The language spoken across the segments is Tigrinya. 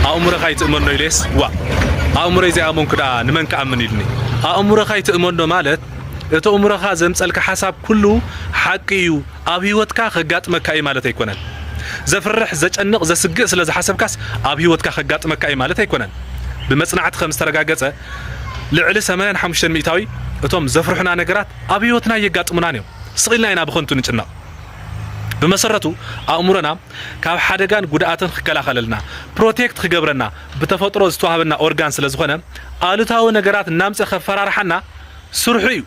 ኣእምሮኻ ኣይትእመኖ ኢለየስ ዋእ ኣእምሮይ ዘይኣመንኩ ደኣ ንመን ክኣምን ኢሉኒ ኣእምሮኻ ኣይትእመኖ ማለት እቲ እምሮኻ ዘምጸልካ ሓሳብ ኩሉ ሓቂ እዩ ኣብ ህይወትካ ከጋጥመካ እዩ ማለት ኣይኮነን ዘፍርሕ ዘጨንቕ ዘስግእ ስለ ዝሓሰብካስ ኣብ ህይወትካ ከጋጥመካ እዩ ማለት ኣይኮነን ብመጽናዕቲ ከም ዝተረጋገጸ ልዕሊ 85 ሚእታዊ እቶም ዘፍርሑና ነገራት ኣብ ህይወትና እየጋጥሙናን እዮም ስቕ ኢልና ኢና ብኸንቱ ንጭነቕ ብመሰረቱ ኣእምሮና ካብ ሓደጋን ጉድኣትን ክከላኸለልና፣ Protect፣ ክገብረና ብተፈጥሮ ዝተዋህበና ኦርጋን ስለዝኾነ ኣሉታዊ ነገራት እናምፀ ከፈራርሓና ስርሑ እዩ።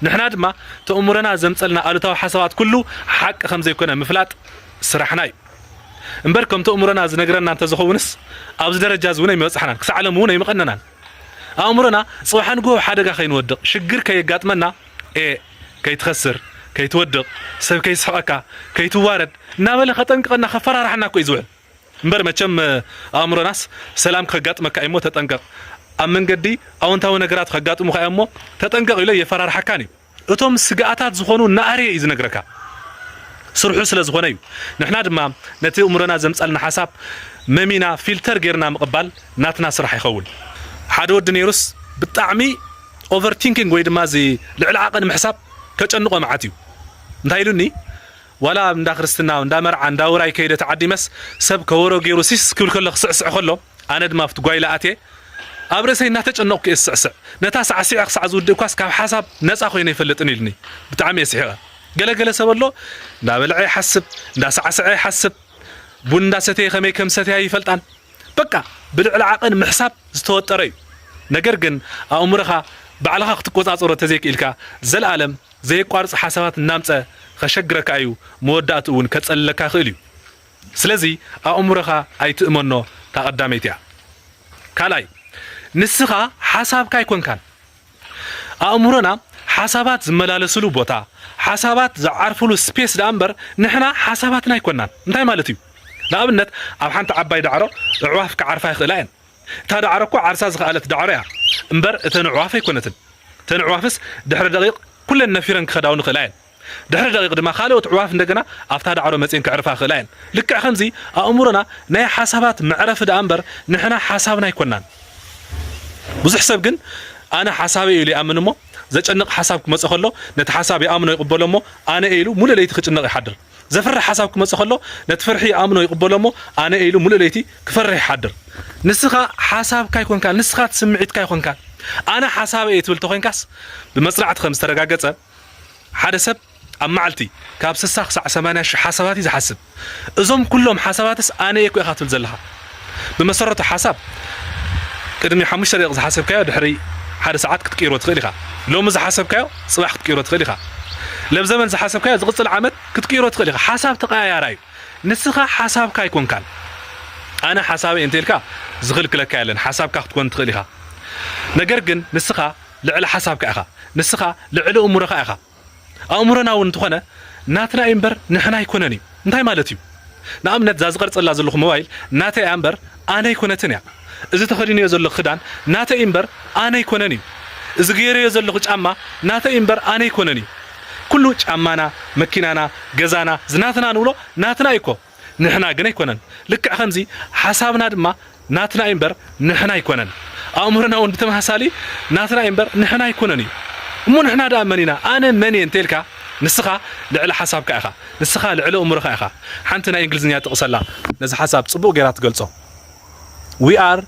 ንሕና ድማ ተእምሮና ዘምፀልና ኣሉታዊ ሓሳባት ኩሉ ሓቂ ከምዘይኮነ ምፍላጥ ስራሕና እዩ። እምበር ከም ተእምሮና ዝነግረና እንተዝኸውንስ ኣብዚ ደረጃ እዚ እውን ኣይምበፃሕናን፣ ክሳዕ ሎሚ እውን ኣይምቐነናን። ኣእምሮና ፅባሕ ንግሆ ሓደጋ ከይንወድቕ፣ ሽግር ከየጋጥመና፣ a። ከይትኸስር፣ ከይትወድቕ፣ ሰብ ከይስሕቐካ፣ ከይትዋረድ እናበለ ከጠንቅቐና ከፈራርሓና እኮ እዩ ዝውዕል። እምበር መቸም ኣእምሮናስ ሰላም ከጋጥመካ እዩሞ ተጠንቀቕ፣ ኣብ መንገዲ ኣወንታዊ ነገራት ከጋጥሙኻ እዮምሞ ተጠንቀቕ ኢሉ ኣየፈራርሓካን እዩ። እቶም ስግኣታት ዝኾኑ እናኣረየ እዩ ዝነግረካ። ስርሑ ስለ ዝኾነ እዩ። ንሕና ድማ ነቲ ኣእምሮና ዘምጻልና ሓሳብ መሚና ፊልተር ጌርና ምቕባል ናትና ስራሕ ይኸውን። ሓደ ወዲ ነይሩስ ብጣዕሚ Over thinking ወይ ድማ እዚ ልዕሊ ዓቐን ምሕሳብ ከጨንቖ መዓት እዩ። እንታይ ኢሉኒ ዋላ እንዳ ክርስትና እንዳ መርዓ እንዳ ውራይ ከይደ ተዓዲመስ ሰብ ከወሮ ጌሩ ሲስ ክብል ከሎ ክስዕስዕ ከሎ ኣነ ድማ ኣብቲ ጓይላ ኣትየ ኣብ ርእሰይ እናተጨነቕኩ እየ ዝስዕስዕ። ነታ ሳዕሲዐ ክሳዕ ዝውድእኳስ ካብ ሓሳብ ነጻ ኮይነ ኣይፈልጥን ኢሉኒ። ብጣዕሚ እየ ስሒቐ። ገለ ገለ ሰብ ኣሎ እንዳበልዐ ይሓስብ፣ እንዳሳዕሰዐ ይሓስብ፣ ቡን እንዳሰተየ ከመይ ከም ዝሰተያ ኣይፈልጣን። በቃ ብልዕሊ ዓቐን ምሕሳብ ዝተወጠረ እዩ ነገር ግን ኣእምሮኻ ባዕልኻ ክትቆጻጸሮ ተዘይክኢልካ ዘልኣለም ዘየቋርጽ ሓሳባት እናምጸ ኸሸግረካ እዩ መወዳእትኡ እውን ከጸልለካ ይኽእል እዩ ስለዚ ኣእምሮኻ ኣይትእመኖ ታቐዳመይቲ እያ ካልኣይ ንስኻ ሓሳብካ ኣይኮንካን ኣእምሮና ሓሳባት ዝመላለስሉ ቦታ፣ ሓሳባት ዝዓርፍሉ ስፔስ ደኣ እምበር ንሕና ሓሳባትና ኣይኮናን። እንታይ ማለት እዩ? ንኣብነት ኣብ ሓንቲ ዓባይ ዳዕሮ ኣዕዋፍ ክዓርፋ ይኽእላ እየን። እታ ዳዕሮ እኮ ዓርሳ ዝኸኣለት ዳዕሮ እያ እምበር እተን ኣዕዋፍ ኣይኮነትን። እተን ኣዕዋፍስ ድሕሪ ደቒቕ ኩለን ነፊረን ክኸዳ እውን ይኽእላ እየን። ድሕሪ ደቒቕ ድማ ካልኦት ኣዕዋፍ እንደገና ኣብታ ዳዕሮ መጺኤን ከዕርፋ ይኽእላ እየን። ልክዕ ከምዚ ኣእምሮና ናይ ሓሳባት መዕረፊ ደኣ እምበር ንሕና ሓሳብና ኣይኮናን። ብዙሕ ሰብ ግን ኣነ ሓሳበይ'ዩ ኢሉ ይኣምን እሞ ዘጨንቕ ሓሳብ ክመጾ ከሎ ነቲ ሓሳብ ይኣምኖ ይቕበሎ እሞ ኣነ ኢሉ ምሉእ ለይቲ ክጭነቕ ይሓድር። ዘፍርሕ ሓሳብ ክመጾ ከሎ ነቲ ፍርሒ ይኣምኖ ይቕበሎ እሞ ኣነ ኢሉ ምሉእ ለይቲ ክፈርሕ ይሓድር። ንስኻ ሓሳብካ ኣይኮንካን ንስኻ ትስምዒትካ ኣይኮንካን። ኣነ ሓሳበይ'የ ትብል ተኾይንካስ ብመጽናዕቲ ከም ዝተረጋገጸ፣ ሓደ ሰብ ኣብ መዓልቲ ካብ ስሳ ክሳዕ ሰማንያ ሽሕ ሓሳባት እዩ ዝሓስብ። እዞም ኩሎም ሓሳባትስ ኣነ እየ እኮ ኢኻ ትብል ዘለኻ። ብመሰረቱ ሓሳብ ቅድሚ ሓሙሽተ ደቂቕ ዝሓሰብካዮ ድሕሪ ሓደ ሰዓት ክትቅይሮ ትኽእል ኢኻ። ሎሚ ዝሓሰብካዮ ጽባሕ ክትቅይሮ ትኽእል ኢኻ። ለብዘበን ዝሓሰብካዮ ዝቕጽል ዓመት ክትቅይሮ ትኽእል ኢኻ። ሓሳብ ተቐያያራይ እዩ። ንስኻ ሓሳብካ ኣይኮንካን። ኣነ ሓሳበይ እንተ ኢልካ ዝኽልክለካ የለን። ሓሳብካ ክትኮን ትኽእል ኢኻ። ነገር ግን ንስኻ ልዕሊ ሓሳብካ ኢኻ ንስኻ ልዕሊ እእሙረኻ ኢኻ ኣእሙረና ውን እንተኾነ ናትና እዩ እምበር ንሕና ኣይኮነን እዩ እንታይ ማለት እዩ ንኣብነት እዛ ዝቀርጸላ ዘለኹ ሞባይል ናተይ እያ እምበር ኣነ ኣይኮነትን እያ እዚ ተኸዲነዮ ዘለኹ ክዳን ናተይ እዩ እምበር ኣነ ኣይኮነን እዩ እዚ ገይረዮ ዘለኹ ጫማ ናተይ እዩ እምበር ኣነ ኣይኮነን እዩ ኩሉ ጫማና መኪናና ገዛና ዝናትና ንብሎ ናትና እዩ እኮ ንሕና ግን ኣይኮነን ልክዕ ከምዚ ሓሳብና ድማ ናትና እዩ እምበር ንሕና ኣይኮነን ኣእምሮና ውን ብተመሳሳሊ ናትና እዩ እምበር ንሕና ኣይኮነን እዩ እሞ ንሕና ደኣ መን ኢና ኣነ መን እየ እንተልካ ንስኻ ልዕሊ ሓሳብካ ኢኻ ንስኻ ልዕሊ ኣእምሮኻ ኢኻ ሓንቲ ናይ እንግሊዝኛ ጥቕሲ ኣላ ነዚ ሓሳብ ጽቡቕ ጌራ ትገልጾ we are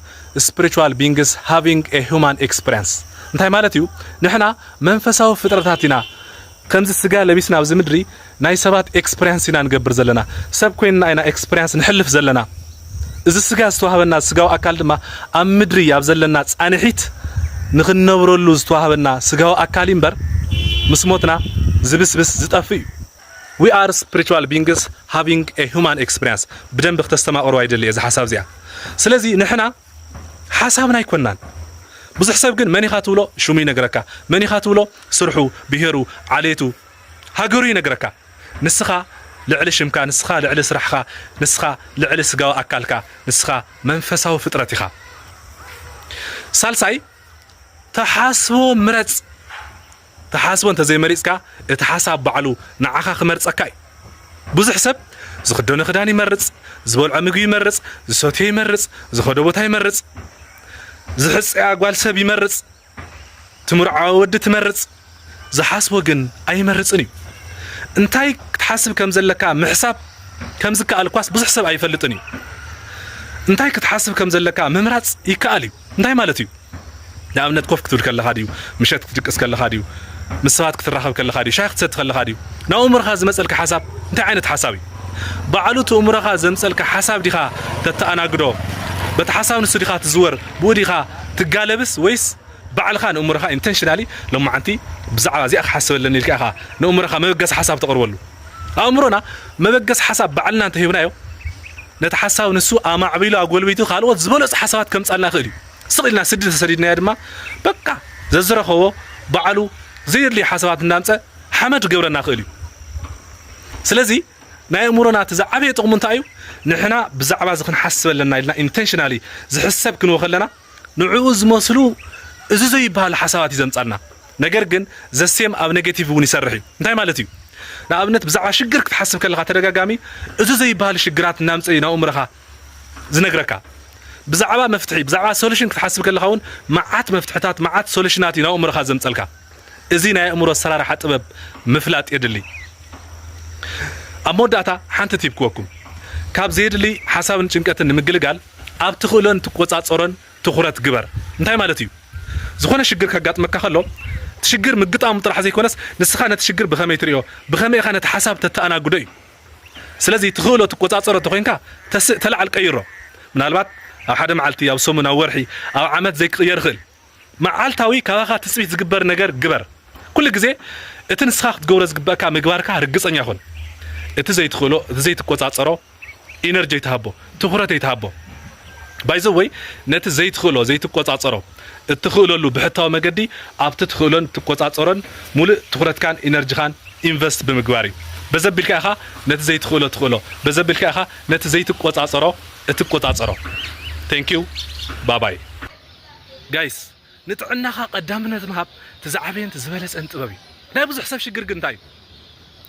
spiritual beings having a human experience እንታይ ማለት እዩ ንሕና መንፈሳዊ ፍጥረታት ኢና ከምዚ ስጋ ለቢስና ኣብዚ ምድሪ ናይ ሰባት ኤክስፕርያንስ ኢና ንገብር ዘለና ሰብ ኮይንና ኢና ኤክስፕርያንስ ንሕልፍ ዘለና እዚ ስጋ ዝተዋህበና ስጋዊ ኣካል ድማ ኣብ ምድሪ ኣብ ዘለና ጻንሒት ንኽንነብረሉ ዝተዋህበና ስጋዊ ኣካል እዩ እምበር ምስ ሞትና ዝብስብስ ዝጠፍእ እዩ We are spiritual beings having a human experience ብደንቢ ክተስተማቅርዋ ይደሊ እየ እዛ ሓሳብ እዚኣ ስለዚ ንሕና ሓሳብና ኣይኮናን ብዙሕ ሰብ ግን መን ኢኻ ትብሎ ሽሙ ይነግረካ መን ኢኻ ትብሎ ስርሑ ብሄሩ ዓሌቱ ሃገሩ ይነግረካ ንስኻ ልዕሊ ሽምካ ንስኻ ልዕሊ ስራሕኻ ንስኻ ልዕሊ ስጋዊ ኣካልካ ንስኻ መንፈሳዊ ፍጥረት ኢኻ ሳልሳይ ተሓስቦ ምረጽ ትሓስቦ እንተዘይመሪጽካ እቲ ሓሳብ ባዕሉ ንዓኻ ክመርጸካ እዩ። ብዙሕ ሰብ ዝኽደኖ ክዳን ይመርጽ፣ ዝበልዖ ምግቢ ይመርጽ፣ ዝሰትዮ ይመርጽ፣ ዝኸዶ ቦታ ይመርጽ፣ ዝሕጸያ ጓል ሰብ ይመርጽ፣ ትምርዓዎ ወዲ ትመርጽ፣ ዝሓስቦ ግን ኣይመርጽን እዩ። እንታይ ክትሓስብ ከም ዘለካ ምሕሳብ ከም ዝከኣል እኳስ ብዙሕ ሰብ ኣይፈልጥን እዩ። እንታይ ክትሓስብ ከም ዘለካ ምምራጽ ይከኣል እዩ። እንታይ ማለት እዩ? ንኣብነት ኮፍ ክትብል ከለኻ ድዩ? ምሸት ክትድቅስ ከለኻ ድዩ? ምስ ሰባት ክትራኸብ ከለኻ ድዩ? ሻሂ ክትሰቲ ከለኻ ድዩ? ናብ ኣእምሮኻ ዝመጸልካ ሓሳብ እንታይ ዓይነት ሓሳብ እዩ? ባዕሉ እቲ እእምሮኻ ዘምጸልካ ሓሳብ ዲኻ ተተኣናግዶ? በቲ ሓሳብ ንሱ ዲኻ ትዝወር? ብኡ ዲኻ ትጋለብስ ወይስ ባዕልኻ ንእእምሮኻ ኢንተንሽናሊ ሎማዓንቲ ብዛዕባ እዚኣ ክሓስብ ኣለኒ ኢልካ ኢኻ ንእእምሮኻ መበገሲ ሓሳብ ተቕርበሉ? ኣእምሮና መበገሲ ሓሳብ ባዕልና እንተሂብናዮ፣ ነቲ ሓሳብ ንሱ ኣማዕቢሉ ኣጎልቢቱ ካልኦት ዝበለጹ ሓሳባት ከምጻልና ይኽእል እዩ። ስቕ ኢልና ስዲ እንተሰዲድናዮ ድማ በቃ ዘዝረኸቦ ባዕሉ ዘየድልዩ ሓሳባት እናምጸ ሓመድ ክገብረና ይኽእል እዩ። ስለዚ ናይ ኣእምሮና እቲ ዝዓበየ ጥቕሙ እንታይ እዩ? ንሕና ብዛዕባ እዚ ክንሓስብ ኣለና ኢልና ኢንተንሽናሊ ዝሕሰብ ክንወ ከለና ንዕኡ ዝመስሉ እዚ ዘይብሃሉ ሓሳባት እዩ ዘምጻልና ነገር ግን the same ኣብ negative እውን ይሰርሕ እዩ እንታይ ማለት እዩ ንኣብነት ብዛዕባ ሽግር ክትሓስብ ከለኻ ተደጋጋሚ እዚ ዘይብሃሉ ሽግራት እናምጸ እዩ ናብ ኣእምሮኻ ዝነግረካ ብዛዕባ መፍትሒ ብዛዕባ ሶሉሽን ክትሓስብ ከለኻ እውን መዓት መፍትሕታት መዓት ሶሉሽናት እዩ ናብ ኣእምሮኻ ዘምጸልካ እዚ ናይ ኣእምሮ ኣሰራርሓ ጥበብ ምፍላጥ የድሊ ኣብ መወዳእታ ሓንቲ ቲፕ ክወኩም ካብ ዘየድሊ ሓሳብን ጭንቀትን ንምግልጋል ኣብ ትኽእሎን ትቆጻጸሮን ትኹረት ግበር። እንታይ ማለት እዩ? ዝኾነ ሽግር ከጋጥመካ ከሎ፣ እቲ ሽግር ምግጣሙ ጥራሕ ዘይኮነስ፣ ንስኻ ነቲ ሽግር ብኸመይ ትርእዮ፣ ብኸመይ ኢኻ ነቲ ሓሳብ ተተኣናግዶ እዩ። ስለዚ ትኽእሎ ትቆጻጸሮ እንተኾይንካ፣ ተስእ ተላዓል ቀይሮ። ምናልባት ኣብ ሓደ መዓልቲ፣ ኣብ ሰሙን፣ ኣብ ወርሒ፣ ኣብ ዓመት ዘይክቕየር ይኽእል። መዓልታዊ ካባኻ ትጽቢት ዝግበር ነገር ግበር። ኩሉ ግዜ እቲ ንስኻ ክትገብሮ ዝግበእካ ምግባርካ ርግጸኛ ኩን። እቲ ዘይትኽእሎ፣ እቲ ዘይትቆጻጸሮ ኢነርጂ ኣይትሃቦ፣ ትኹረት ኣይትሃቦ። ባይ ዘ ወይ ነቲ ዘይትኽእሎ፣ ዘይትቆጻጸሮ፣ እትኽእለሉ ብሕታዊ መገዲ ኣብቲ ትኽእሎን ትቆጻጸሮን ሙሉእ ትኹረትካን ኢነርጂኻን ኢንቨስት ብምግባር እዩ። በዚ ኣቢልካ ኢኻ ነቲ ዘይትኽእሎ ትኽእሎ፣ በዚ ኣቢልካ ኢኻ ነቲ ዘይትቆጻጸሮ እትቆጻጸሮ። Thank you ባባይ። ጋይስ ንጥዕናኻ ቀዳምነት ምሃብ እቲ ዝዓበየን እቲ ዝበለጸን ጥበብ እዩ። ናይ ብዙሕ ሰብ ሽግር ግን እንታይ እዩ?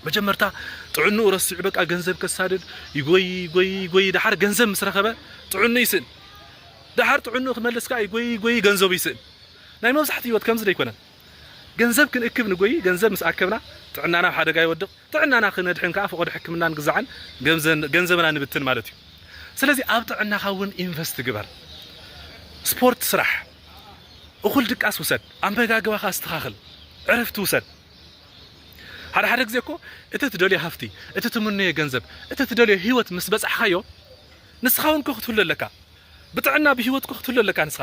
መጀመርታ ጥዕንኡ ረሲዑ በቃ ገንዘብ ከሳድድ ይጎይ ይጎይ ይጎይ ደሓር ገንዘብ ምስ ረኸበ ጥዕንኡ ይስእን። ደሓር ጥዕንኡ ክመልስ ከኣ ይጎይ ይጎይ ገንዘቡ ይስእን። ናይ መብዛሕትኡ ህይወት ከምዚ ዶ ኣይኮነን? ገንዘብ ክንእክብ ንጎዪ፣ ገንዘብ ምስ ኣከብና ጥዕናና ኣብ ሓደጋ ይወድቕ፣ ጥዕናና ክነድሕን ከኣ ፍቖዶ ሕክምናን ግዛዕን ገንዘብና ንብትን ማለት እዩ። ስለዚ ኣብ ጥዕናኻ እውን ኢንቨስት ግበር። ስፖርት ስራሕ፣ እኹል ድቃስ ውሰድ፣ ኣመጋግባኻ ኣስተኻኽል፣ ዕረፍቲ ውሰድ። ሓደ ሓደ ግዜ እኮ እቲ ትደልዮ ሃፍቲ፣ እቲ ትምነዮ ገንዘብ፣ እቲ ትደልዮ ህይወት ምስ በጻሕካዮ ንስኻ እውን እኮ ክትህሉ ኣለካ። ብጥዕና ብህይወት እኮ ክትህሉ ኣለካ ንስኻ።